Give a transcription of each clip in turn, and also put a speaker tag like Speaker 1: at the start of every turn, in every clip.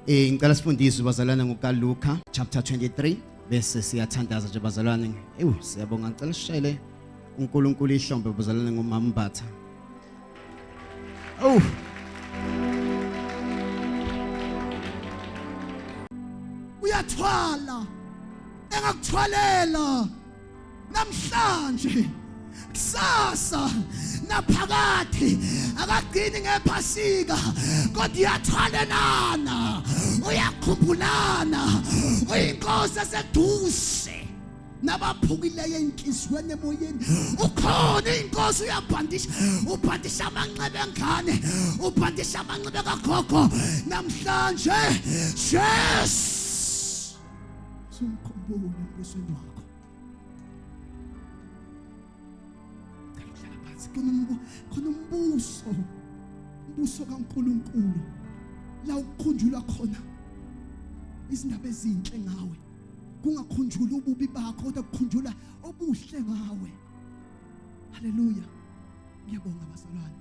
Speaker 1: Eh ngicela sifundiswe bazalwane ngokaLuka chapter 23 bese siyathandaza nje bazalwane. Ewu siyabonga ngicela sishele uNkulunkulu ihlombe bazalwane ngomama Mbatha. Oh.
Speaker 2: Uyathwala engakuthwalela namhlanje kusasa naphakade akagcini ngephasika kodwa uyathwalelana uyakhumbulana uyinkosi eseduze nabaphukileyo enhliziyweni emoyeni ukhona inkosi uyabhandisha ubhandisha amanxeba engane ubhandisha amanxeba kagogo namhlanje yes sumkhumbule embusweni wakho khona umbuso umbuso kaNkuluNkulu la ukukhunjulwa khona izindaba ezinhle ngawe kungakhunjula ububi bakho kodwa kukhunjula obuhle ngawe haleluya ngiyabonga bazalwane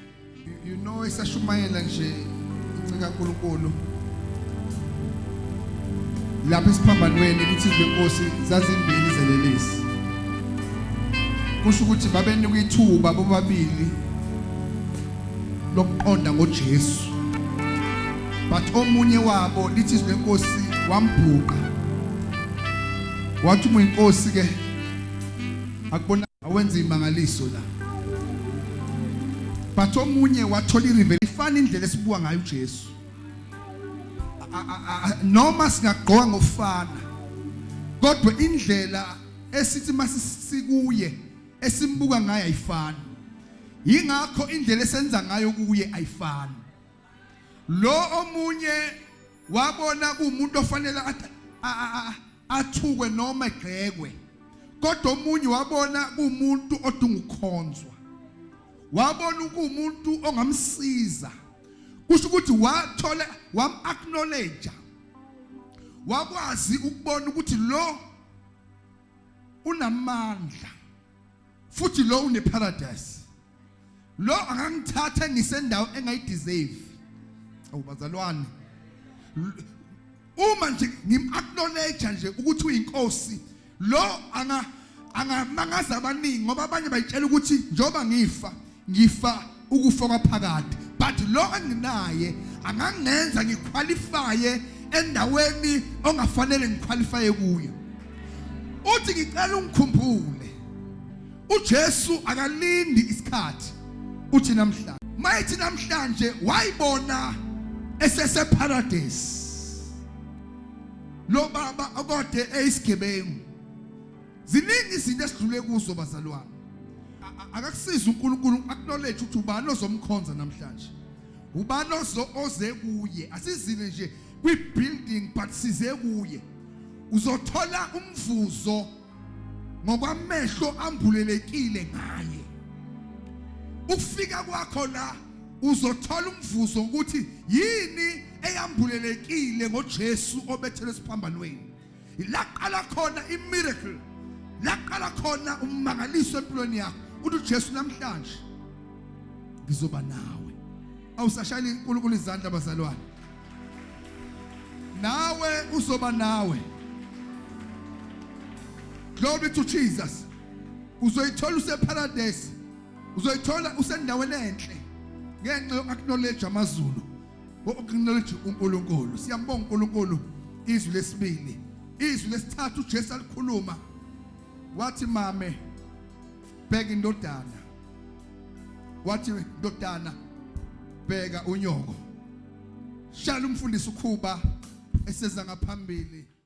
Speaker 3: you know isashumayela nje incika uNkulunkulu lapha esiphambanweni ukuthi inkosi zazimbili zelelisi kusho ukuthi babenika ithuba bobabili lokuqonda ngoJesu but omunye wabo lithi izwi lenkosi wambhuqa wathi uma inkosi ke akubona awenze imangaliso la but omunye wathola irevele ifana indlela esibuka ngayo uJesu noma singagqoka ngofana kodwa indlela esithi masisikuye esimbuka ngayo ayifani yingakho indlela esenza ngayo kuye ayifani lo omunye wabona kuumuntu ofanele athukwe noma egxekwe kodwa omunye wabona kuumuntu odinga ukukhonzwa wabona ukuumuntu ongamsiza kusho ukuthi wathola wam acknowledge wakwazi ukubona ukuthi lo unamandla futhi lo uneparadise lo akangithathe ngisendawo engayideserve awubazalwane uma nje ngim-acknowledge nje ukuthi uyinkosi lo anga angamangaza abaningi ngoba abanye bayitshela ukuthi njoba ngifa ngifa ukufa kwaphakade but lo enginaye angangenza ngiqualifye endaweni ongafanele ngiqualifye kuyo uthi ngicela ungikhumbule uJesu akalindi isikhathi uthi namhlanje mayithi namhlanje wayibona esese paradise lo baba okode eyisigebengu ziningi izinto esidlule kuzo bazalwane akakusiza uNkulunkulu acknowledge ukuthi ubani ozomkhonza namhlanje ubani ozo oze kuye asizile nje kwi building but size kuye uzothola umvuzo ngokwamehlo ambulelekile ngaye ukufika kwakho la uzothola umvuzo ukuthi yini eyambulelekile ngoJesu obethelwe esiphambanweni laqala khona imiracle laqala khona ummangaliso empilweni yakho uthi uJesu namhlanje ngizoba nawe awusashayela inkulunkulu izandla bazalwane nawe uzoba nawe glory to Jesus uzoyithola useparadise uzoyithola usendaweni enhle ngenxa yokuacknowledge amazulu ngokuacknowledge uNkulunkulu siyambonga uNkulunkulu izwi lesibili izwi lesithathu uJesu alikhuluma wathi mame bheka indodana wathi ndodana bheka unyoko shala umfundisi ukhuba eseza ngaphambili